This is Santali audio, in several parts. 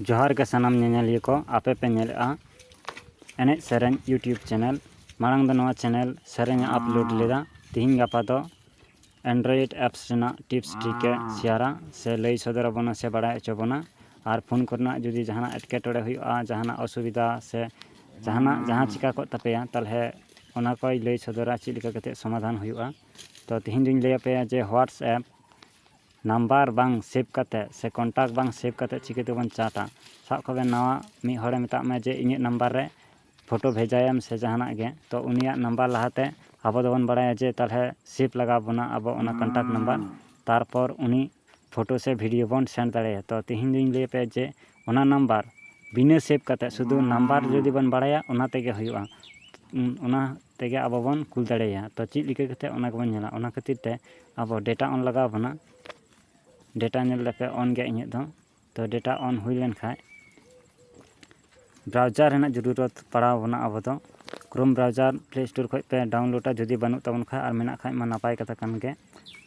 ᱡᱚᱦᱟᱨ ᱜᱮ ᱥᱟᱱᱟᱢ ᱧᱮᱧᱮᱞᱤᱭᱟᱹ ᱠᱚ ᱟᱯᱮ ᱯᱮ ᱧᱮᱞᱮᱜᱼᱟ ᱮᱱᱮᱡ ᱥᱮᱨᱮᱧ ᱤᱭᱩᱴᱩᱵᱽ ᱪᱮᱱᱮᱞ ᱢᱟᱲᱟᱝ ᱫᱚ ᱱᱚᱣᱟ ᱪᱮᱱᱮᱞ ᱥᱮᱨᱮᱧ ᱮ ᱟᱯᱞᱳᱰ ᱞᱮᱫᱟ ᱛᱮᱦᱮᱧ ᱜᱟᱯᱟ ᱫᱚ ᱮᱱᱰᱨᱚᱭᱮᱰ ᱮᱯᱥ ᱨᱮᱱᱟᱜ ᱴᱤᱯᱥ ᱴᱨᱤᱠ ᱮ ᱥᱮᱭᱟᱨᱟ ᱥᱮ ᱞᱟᱹᱭ ᱥᱚᱫᱚᱨ ᱟᱵᱚᱱᱟ ᱥᱮ ᱵᱟᱲᱟᱭ ᱦᱚᱪᱚ ᱵᱚᱱᱟ ᱟᱨ ᱯᱷᱳᱱ ᱠᱚᱨᱮᱱᱟᱜ ᱡᱩᱫᱤ ᱡᱟᱦᱟᱱᱟᱜ ᱮᱴᱠᱮᱴᱚᱬᱮ ᱦᱩᱭᱩᱜᱼᱟ ᱡᱟᱦᱟᱱᱟᱜ ᱚᱥᱩᱵᱤᱫᱷᱟ ᱥᱮ ᱡᱟᱦᱟᱱᱟᱜ ᱡᱟᱦᱟᱸ ᱪᱤᱠᱟᱹ ᱠᱚᱜ ᱛᱟᱯᱮᱭᱟ ᱛᱟᱦᱚᱞᱮ ᱚᱱᱟ ᱠᱚᱭ ᱞᱟᱹᱭ ᱥᱚᱫᱚᱨᱟ ᱪᱮᱫ ᱞᱮᱠᱟ ᱠᱟᱛᱮᱫ ᱥᱚᱢᱟᱫᱷᱟᱱ ᱦᱩᱭᱩᱜᱼᱟ ᱛᱚ ᱛᱮᱦᱮᱧ ᱫᱚᱧ ᱞᱟᱹᱭ ᱟᱯᱮᱭᱟ ᱡᱮ ᱦᱳᱣᱟᱴᱥ ᱮᱯ ᱱᱟᱢᱵᱟᱨ ᱵᱟᱝ ᱥᱮᱵᱷ ᱠᱟᱛᱮᱫ ᱥᱮ ᱠᱚᱱᱴᱟᱠ ᱵᱟᱝ ᱥᱮᱵᱷ ᱠᱟᱛᱮᱫ ᱪᱤᱠᱟᱹ ᱛᱮᱵᱚᱱ ᱪᱟᱴᱟ ᱥᱟᱵ ᱠᱟᱜ ᱵᱮᱱ ᱱᱟᱣᱟ ᱢᱤᱫ ᱦᱚᱲᱮ ᱢᱮᱛᱟᱜ ᱢᱮᱭᱟ ᱡᱮ ᱤᱧᱟᱹᱜ ᱱᱟᱢᱵᱟᱨ ᱨᱮ ᱯᱷᱳᱴᱳ ᱵᱷᱮᱡᱟᱭᱮᱢ ᱥᱮ ᱡᱟᱦᱟᱱᱟᱜ ᱜᱮ ᱛᱚ ᱩᱱᱤᱭᱟᱜ ᱱᱟᱢᱵᱟᱨ ᱞᱟᱦᱟᱛᱮ ᱟᱵᱚ ᱫᱚᱵᱚᱱ ᱵᱟᱲᱟᱭᱟ ᱡᱮ ᱛᱟᱦᱚᱞᱮ ᱥᱮᱵᱷ ᱞᱟᱜᱟᱣ ᱵᱚᱱᱟ ᱟᱵᱚ ᱚᱱᱟ ᱠᱚᱱᱴᱟᱠ ᱱᱟᱢᱵᱟᱨ ᱛᱟᱨᱯᱚᱨ ᱩᱱᱤ ᱯᱷᱳᱴᱳ ᱥᱮ ᱵᱷᱤᱰᱭᱳ ᱵᱚᱱ ᱥᱮᱱᱰ ᱫᱟᱲᱮᱭᱟᱭᱟ ᱛᱚ ᱛᱮᱦᱮᱧ ᱫᱚᱧ ᱞᱟᱹᱭ ᱟᱯᱮᱭᱟ ᱡᱮ ᱚᱱᱟ ᱱᱟᱢᱵᱟᱨ ᱵᱤᱱᱟᱹ ᱥᱮᱵᱷ ᱠᱟᱛᱮᱫ ᱥᱩᱫᱩ ᱱᱟᱢᱵᱟᱨ ᱡᱩᱫᱤ ᱵᱚᱱ ᱵᱟᱲᱟᱭᱟ ᱚᱱᱟ ᱛᱮᱜᱮ ᱦᱩᱭᱩᱜᱼᱟ ᱚᱱᱟ ᱛᱮᱜᱮ ᱟᱵᱚ ᱵᱚᱱ ᱠᱩᱞ ᱫᱟᱲᱮᱭᱟᱭᱟ ᱛᱚ ᱪᱮᱫ ᱞᱮᱠᱟ ᱠᱟᱛᱮᱫ ᱚᱱᱟ ᱜᱮᱵᱚᱱ ᱧᱮᱞᱟ ᱚᱱᱟ ᱠᱷᱟᱹᱛᱤᱨ ᱛᱮ ᱟᱵᱚ ᱰᱮᱴᱟ ᱚᱱ ᱞᱟᱜᱟᱣ ᱵᱚᱱᱟ ᱰᱮᱴᱟ ᱧᱮᱞ ᱞᱮᱠᱟ ᱚᱱ ᱜᱮ ᱤᱧᱟᱹᱜ ᱫᱚ ᱛᱚ ᱰᱮᱴᱟ ᱚᱱ ᱦᱩᱭ ᱞᱮᱱᱠᱷᱟᱱ ᱵᱨᱟᱣᱡᱟᱨ ᱨᱮᱱᱟᱜ ᱡᱩᱨᱩᱨᱚᱛ ᱯᱟᱲᱟᱣ ᱵᱚᱱᱟ ᱟᱵᱚ ᱫᱚ ᱠᱨᱳᱢ ᱵᱨᱟᱣᱡᱟᱨ ᱯᱞᱮ ᱥᱴᱳᱨ ᱠᱷᱚᱱ ᱯᱮ ᱰᱟᱣᱩᱱᱞᱳᱰᱟ ᱡᱩᱫᱤ ᱵᱟᱹᱱᱩᱜ ᱛᱟᱵᱚᱱ ᱠᱷᱟᱱ ᱟᱨ ᱢᱮᱱᱟᱜ ᱠᱷᱟᱱ ᱢᱟ ᱱᱟᱯᱟᱭ ᱠᱟᱛᱷᱟ ᱠᱟᱱ ᱜᱮ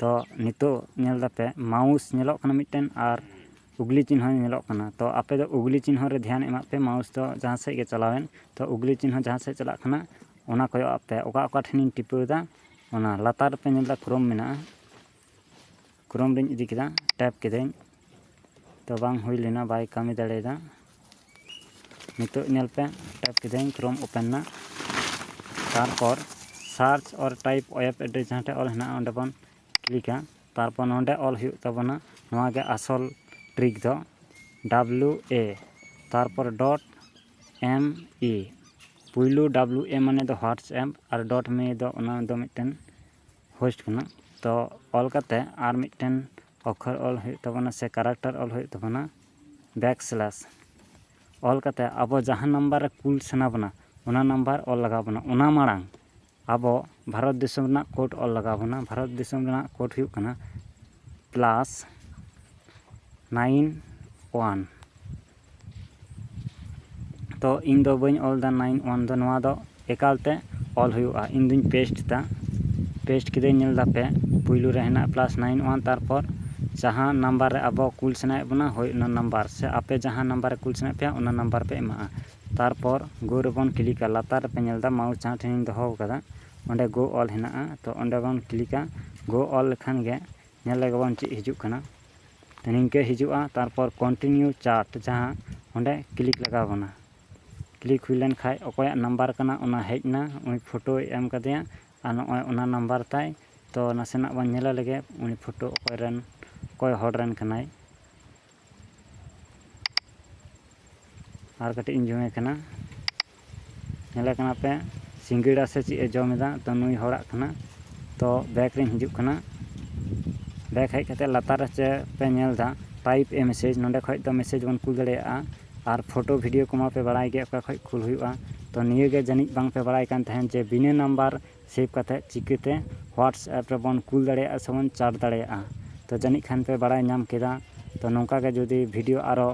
ᱛᱚ ᱱᱤᱛᱚᱜ ᱧᱮᱞ ᱮᱫᱟᱯᱮ ᱢᱟᱣᱩᱥ ᱧᱮᱞᱚᱜ ᱠᱟᱱᱟ ᱢᱤᱫᱴᱮᱱ ᱟᱨ ᱩᱜᱽᱞᱤ ᱪᱤᱱᱦᱟᱹ ᱧᱮᱞᱚᱜ ᱠᱟᱱᱟ ᱛᱚ ᱟᱯᱮ ᱫᱚ ᱩᱜᱽᱞᱤ ᱪᱤᱱᱦᱟᱹ ᱨᱮ ᱫᱷᱮᱭᱟᱱ ᱮᱢᱟᱜ ᱯᱮ ᱢᱟᱣᱩᱥ ᱫᱚ ᱡᱟᱦᱟᱸ ᱥᱮᱫ ᱜᱮ ᱪᱟᱞᱟᱣᱮᱱ ᱛᱚ ᱩᱜᱽᱞᱤ ᱪᱤᱱᱦᱟᱹ ᱡᱟᱦᱟᱸ ᱥᱮᱫ ᱪᱟᱞᱟᱜ ᱠᱟᱱᱟ ᱚᱱᱟ ᱠᱚᱭᱚᱜ ᱟᱜ ᱯᱮ ᱚᱠᱟ ᱚᱠᱟ ᱴᱷᱮᱱᱤᱧ ᱴᱤᱯᱟᱹᱣᱫᱟ ᱚᱱᱟ ᱞᱟᱛᱟᱨ ᱨᱮᱯᱮ ᱧᱮᱞ ᱮᱫᱟ ᱠᱨᱳᱢ ᱢᱮᱱᱟᱜᱼᱟ ᱠᱨᱳᱢ ᱨᱤᱧ ᱤᱫᱤ ᱠᱮᱫᱟ ᱴᱮᱯ ᱠᱤᱫᱟᱹᱧ ᱛᱚ ᱵᱟᱝ ᱦᱩᱭ ᱞᱮᱱᱟ ᱵᱟᱭ ᱠᱟᱹᱢᱤ ᱫᱟᱲᱮᱭᱟᱫᱟ ᱱᱤᱛᱚᱜ ᱧᱮᱞ ᱯᱮ ᱴᱮᱯ ᱠᱤᱫᱟᱹᱧ ᱠᱨᱳᱢ ᱳᱯᱮᱱ ᱮᱱᱟ ᱛᱟᱨᱯᱚᱨ ᱥᱟᱨᱪ ᱚᱨ ᱴᱟᱭᱤᱯ ᱳᱭᱮᱵᱽ ᱮᱰᱨᱮᱥ ᱡᱟᱦᱟᱸ ᱴᱷᱮᱱ ᱚᱞ ᱦᱮᱱᱟᱜᱼᱟ ᱚᱸᱰᱮ ᱵᱚᱱ ᱠᱞᱤᱠᱟ ᱛᱟᱨᱯᱚᱨ ᱱᱚᱰᱮ ᱚᱞ ᱦᱩᱭᱩᱜ ᱛᱟᱵᱚᱱᱟ ᱱᱚᱣᱟ ᱜᱮ ᱟᱥᱚᱞ ᱴᱨᱤᱠ ᱫᱚ ᱰᱟᱵᱞᱩ ᱮ ᱛᱟᱨᱯᱚᱨ ᱰᱚᱴ ᱮᱢ ᱤ ᱯᱩᱭᱞᱩ ᱰᱟᱵᱞᱩ ᱮ ᱢᱟᱱᱮ ᱫᱚ ᱦᱳᱣᱟᱴᱥ ᱮᱯ ᱟᱨ ᱰᱚᱴ ᱢᱮ ᱫᱚ ᱚᱱᱟ ᱫᱚ ᱢᱤᱫᱴᱮᱱ ᱦᱳᱥᱴ ᱠᱟᱱᱟ ᱛᱚ ᱚᱞ ᱠᱟᱛᱮ ᱟᱨ ᱢᱤᱫᱴᱮᱱ ᱚᱠᱠᱷᱚᱨ ᱚᱞ ᱦᱩᱭᱩᱜ ᱛᱟᱵᱚᱱᱟ ᱥᱮ ᱠᱮᱨᱮᱠᱴᱟᱨ ᱚᱞ ᱦᱩᱭᱩᱜ ᱛᱟᱵᱚᱱᱟ ᱵᱮᱠ ᱥᱞᱮᱥ ᱚᱞ ᱠᱟᱛᱮ ᱟᱵᱚ ᱡᱟᱦᱟᱸ ᱱᱟᱢᱵᱟᱨ ᱨᱮ ᱠᱩᱞ ᱥᱟᱱᱟ ᱵᱚᱱᱟ ᱚᱱᱟ ᱱᱟᱢᱵᱟᱨ ᱚᱞ ᱞᱟᱜᱟᱣ ᱵᱚᱱᱟ ᱚᱱᱟ ᱢᱟᱲᱟᱝ ᱟᱵᱚ ᱵᱷᱟᱨᱚᱛ ᱫᱤᱥᱚᱢ ᱨᱮᱱᱟᱜ ᱠᱳᱰ ᱚᱞ ᱞᱟᱜᱟᱣ ᱵᱚᱱᱟ ᱵᱷᱟᱨᱚᱛ ᱫᱤᱥᱚᱢ ᱨᱮᱱᱟᱜ ᱠᱳᱰ ᱦᱩᱭᱩᱜ ᱠᱟᱱᱟ ᱯᱞᱟᱥ ᱱᱟᱭᱤᱱ ᱚᱣᱟᱱ ᱛᱚ ᱤᱧ ᱫᱚ ᱵᱟᱹᱧ ᱚᱞ ᱮᱫᱟ ᱱᱟᱭᱤᱱ ᱚᱣᱟᱱ ᱫᱚ ᱱᱚᱣᱟ ᱫᱚ ᱮᱠᱟᱞ ᱛᱮ ᱚᱞ ᱦᱩᱭᱩᱜᱼᱟ ᱤᱧ ᱫᱚᱹᱧ ᱯᱮᱥᱴ ᱮᱫᱟ ᱯᱮᱥᱴ ᱠᱮᱫᱟᱹᱧ ᱧᱮᱞ ᱮᱫᱟᱯᱮ ᱯᱩᱭᱞᱩ ᱨᱮ ᱦᱮᱱᱟᱜᱼᱟ ᱯᱞᱟᱥ ᱱᱟᱭᱤᱱ ᱚᱣᱟᱱ ᱛᱟᱨᱯᱚᱨ ᱡᱟᱦᱟᱸ ᱱᱟᱢᱵᱟᱨ ᱨᱮ ᱟᱵᱚ ᱠᱩᱞ ᱥᱟᱱᱟᱭᱮᱫ ᱵᱚᱱᱟ ᱦᱳᱭ ᱚᱱᱟ ᱱᱟᱢᱵᱟᱨ ᱥᱮ ᱟᱯᱮ ᱡᱟᱦᱟᱸ ᱱᱟᱢᱵᱟᱨ ᱨᱮ ᱠᱩᱞ ᱥᱟᱱᱟᱭᱮᱫ ᱯᱮᱭᱟ ᱚᱱᱟ ᱱᱟᱢᱵᱟᱨ ᱯᱮ ᱮᱢᱟᱜᱼᱟ ᱛᱟᱨᱯᱚᱨ ᱜᱳ ᱨᱮᱵᱚᱱ ᱠᱞᱤᱠᱟ ᱞᱟᱛᱟᱨ ᱨᱮᱯᱮ ᱧᱮᱞ ᱮᱫᱟ ᱢᱟᱣᱩᱥ ᱡᱟᱦᱟᱸ ᱴᱷᱮᱱᱤᱧ ᱫᱚᱦᱚ ᱟᱠᱟᱫᱟ ᱚᱸᱰᱮ ᱜᱳ ᱚᱞ ᱦᱮᱱᱟᱜᱼᱟ ᱛᱚ ᱚᱸᱰᱮ ᱵᱚᱱ ᱠᱞᱤᱠᱟ ᱜᱳ ᱚᱞ ᱞᱮᱠᱷᱟᱱ ᱜᱮ ᱧᱮᱞ ᱞᱮᱜᱮ ᱵᱚᱱ ᱪᱮᱫ ᱦᱤᱡᱩᱜ ᱠᱟᱱᱟ ᱛᱚ ᱱᱤᱝᱠᱟᱹ ᱦᱤᱡᱩᱜᱼᱟ ᱛᱟᱨᱯᱚᱨ ᱠᱚᱱᱴᱤᱱᱤᱭᱩ ᱪᱟᱨᱴ ᱡᱟᱦᱟᱸ ᱚᱸᱰᱮ ᱠᱞᱤᱠ ᱞᱟᱜᱟᱣ ᱵᱚᱱᱟ ᱠᱞᱤᱠ ᱦᱩᱭ ᱞᱮᱱ ᱠᱷᱟᱱ ᱚᱠᱚᱭᱟᱜ ᱱᱟᱢᱵᱟᱨ ᱠᱟᱱᱟ ᱚᱱᱟ ᱦᱮᱡ ᱮᱱᱟ ᱩᱱᱤ ᱯᱷᱳᱴᱳᱭ ᱮᱢ ᱟᱠᱟᱫᱮᱭᱟ ᱟᱨ ᱱᱚᱜᱼᱚᱭ ᱚᱱᱟ ᱱᱟᱢᱵᱟᱨ ᱛᱟᱭ ᱛᱚ ᱱᱟᱥᱮᱱᱟᱜ ᱵᱚᱱ ᱧᱮᱞ ᱞᱮᱜᱮ ᱩᱱᱤ ᱯᱷᱳᱴᱳ ᱚᱠᱚᱭ ᱨᱮᱱ ᱚᱠᱚᱭ ᱦᱚᱲ ᱨᱮᱱ ᱠᱟᱱᱟᱭ ᱟᱨ ᱠᱟᱹᱴᱤᱡ ᱤᱧ ᱡᱚᱢᱮ ᱠᱟᱱᱟ ᱧᱮᱞᱮ ᱠᱟᱱᱟ ᱯᱮ ᱥᱤᱸᱜᱟᱹᱲᱟ ᱥᱮ ᱪᱮᱫ ᱮ ᱡᱚᱢ ᱮᱫᱟ ᱛᱚ ᱱᱩᱭ ᱦᱚᱲᱟᱜ ᱠᱟᱱᱟ ᱛᱚ ᱵᱮᱠ ᱨᱤᱧ ᱦᱤᱡᱩᱜ ᱠᱟᱱᱟ ᱵᱮᱠ ᱦᱮᱡ ᱠᱟᱛᱮ ᱞᱟᱛᱟᱨ ᱨᱮ ᱪᱮᱫ ᱯᱮ ᱧᱮᱞ ᱮᱫᱟ ᱴᱟᱭᱤᱯ ᱮ ᱢᱮᱥᱮᱡᱽ ᱱᱚᱰᱮ ᱠᱷᱚᱡ ᱫᱚ ᱢᱮᱥᱮᱡᱽ ᱵᱚᱱ ᱠᱩᱞ ᱫᱟᱲᱮᱭᱟᱜᱼᱟ ᱟᱨ ᱯᱷᱳᱴᱳ ᱵᱷᱤᱰᱤᱭᱳ ᱠᱚᱢᱟ ᱯᱮ ᱵᱟᱲᱟᱭ ᱜᱮ ᱚᱠᱟ ᱠᱷᱚᱡ ᱠᱩᱞ ᱦᱩᱭᱩᱜᱼᱟ ᱛᱚ ᱱᱤᱭᱟᱹ ᱜᱮ ᱡᱟᱹᱱᱤᱡ ᱵᱟᱝ ᱯᱮ ᱵᱟᱲᱟᱭ ᱠᱟᱱ ᱛᱟᱦᱮᱱ ᱡᱮ ᱵᱤᱱᱟᱹ ᱱᱟᱢᱵᱟᱨ ᱥᱮᱵᱷ ᱠᱟᱛᱮ ᱪᱤᱠᱟᱹᱛᱮ ᱦᱳᱣᱟᱴᱥᱮᱯ ᱨᱮᱵᱚᱱ ᱠᱩᱞ ᱫᱟᱲᱮᱭᱟᱜᱼᱟ ᱥᱮ ᱵᱚᱱ ᱪᱟᱴ ᱫᱟᱲᱮᱭᱟᱜᱼᱟ ᱛᱚ ᱡᱟᱹᱱᱤᱡ ᱠᱷᱟᱱ ᱯᱮ ᱵᱟᱲᱟᱭ ᱧᱟᱢ ᱠᱮᱫᱟ ᱛᱚ ᱱᱚᱝᱠᱟ ᱜᱮ ᱡᱩᱫᱤ ᱵᱷᱤᱰᱤᱭᱳ ᱟᱨᱚ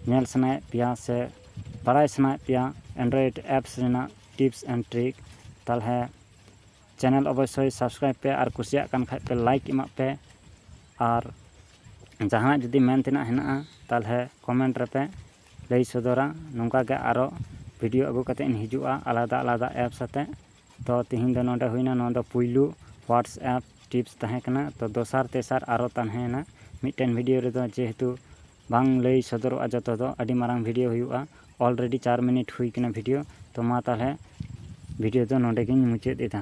ᱧᱮᱞ ᱥᱟᱱᱟᱭᱮᱫ ᱯᱮᱭᱟ ᱥᱮ ᱵᱟᱲᱟᱭ ᱥᱟᱱᱟᱭᱮᱫ ᱯᱮᱭᱟ ᱮᱱᱰᱨᱚᱭᱮᱰ ᱮᱯᱥ ᱨᱮᱱᱟᱜ ᱴᱤᱯᱥ ᱮᱱᱰ ᱴᱨᱤᱠ ᱛᱟᱦᱚᱞᱮ ᱪᱮᱱᱮᱞ ᱚᱵᱚᱥᱥᱳᱭ ᱥᱟᱵᱥᱠᱨᱟᱭᱤᱵᱽ ᱯᱮ ᱟᱨ ᱠᱩᱥᱤᱭᱟᱜ ᱠᱟᱱ ᱠᱷᱟᱡ ᱯᱮ ᱞᱟᱭᱤᱠ ᱮᱢᱟᱜ ᱯᱮ ᱟᱨ ᱡᱟᱦᱟᱱᱟᱜ ᱡᱩᱫᱤ ᱢᱮᱱ ᱛᱮᱱᱟᱜ ᱦᱮᱱᱟᱜᱼᱟ ᱛᱟᱦᱚᱞᱮ ᱠᱚᱢᱮᱱᱴ ᱨᱮᱯᱮ ᱞᱟᱹᱭ ᱥᱚᱫᱚᱨᱟ ᱱᱚᱝᱠᱟ ᱜᱮ ᱟᱨᱚ ᱵᱷᱤᱰᱤᱭᱳ ᱟᱹᱜᱩ ᱠᱟᱛᱮ ᱤᱧ ᱦᱤᱡᱩᱜᱼᱟ ᱟᱞᱟᱫᱟ ᱟᱞᱟᱫᱟ ᱮᱯᱥ ᱟᱛᱮ ᱛᱚ ᱛᱤᱦᱤᱧ ᱫᱚ ᱱᱚᱰᱮ ᱦᱩᱭᱱᱟ ᱱᱚᱣᱟ ᱫᱚ ᱯᱩᱭᱞᱩ ᱦᱳᱣᱟᱴᱥᱮᱯ ᱴᱤᱯᱥ ᱛᱟᱦᱮᱸ ᱠᱟᱱᱟ ᱛᱚ ᱫᱚᱥᱟᱨ ᱛᱮᱥᱟᱨ ᱟᱨᱚ ᱛᱟᱦᱮᱸᱭᱮᱱᱟ ᱢᱤᱫᱴᱮᱱ ᱵᱷᱤᱰᱤᱭᱳ ᱨᱮᱫᱚ ᱡᱮᱦᱮᱛᱩ ᱵᱟᱝ ᱞᱟᱹᱭ ᱥᱚᱫᱚᱨᱚᱜᱼᱟ ᱡᱚᱛᱚ ᱫᱚ ᱟᱹᱰᱤ ᱢᱟᱨᱟᱝ ᱵᱷᱤᱰᱤᱭᱳ ᱦᱩᱭᱩᱜᱼᱟ ᱚᱞᱨᱮᱰᱤ ᱪᱟᱨ ᱢᱤᱱᱤᱴ ᱦᱩᱭ ᱠᱟᱱᱟ ᱵᱷᱤᱰᱤᱭᱳ ᱛᱚ ᱢᱟ ᱛᱟᱦᱚᱞᱮ ᱵᱷᱤᱰᱤᱭᱳ ᱫᱚ ᱱᱚᱰᱮ ᱜᱤᱧ ᱢᱩᱪᱟᱹᱫ ᱮᱫᱟ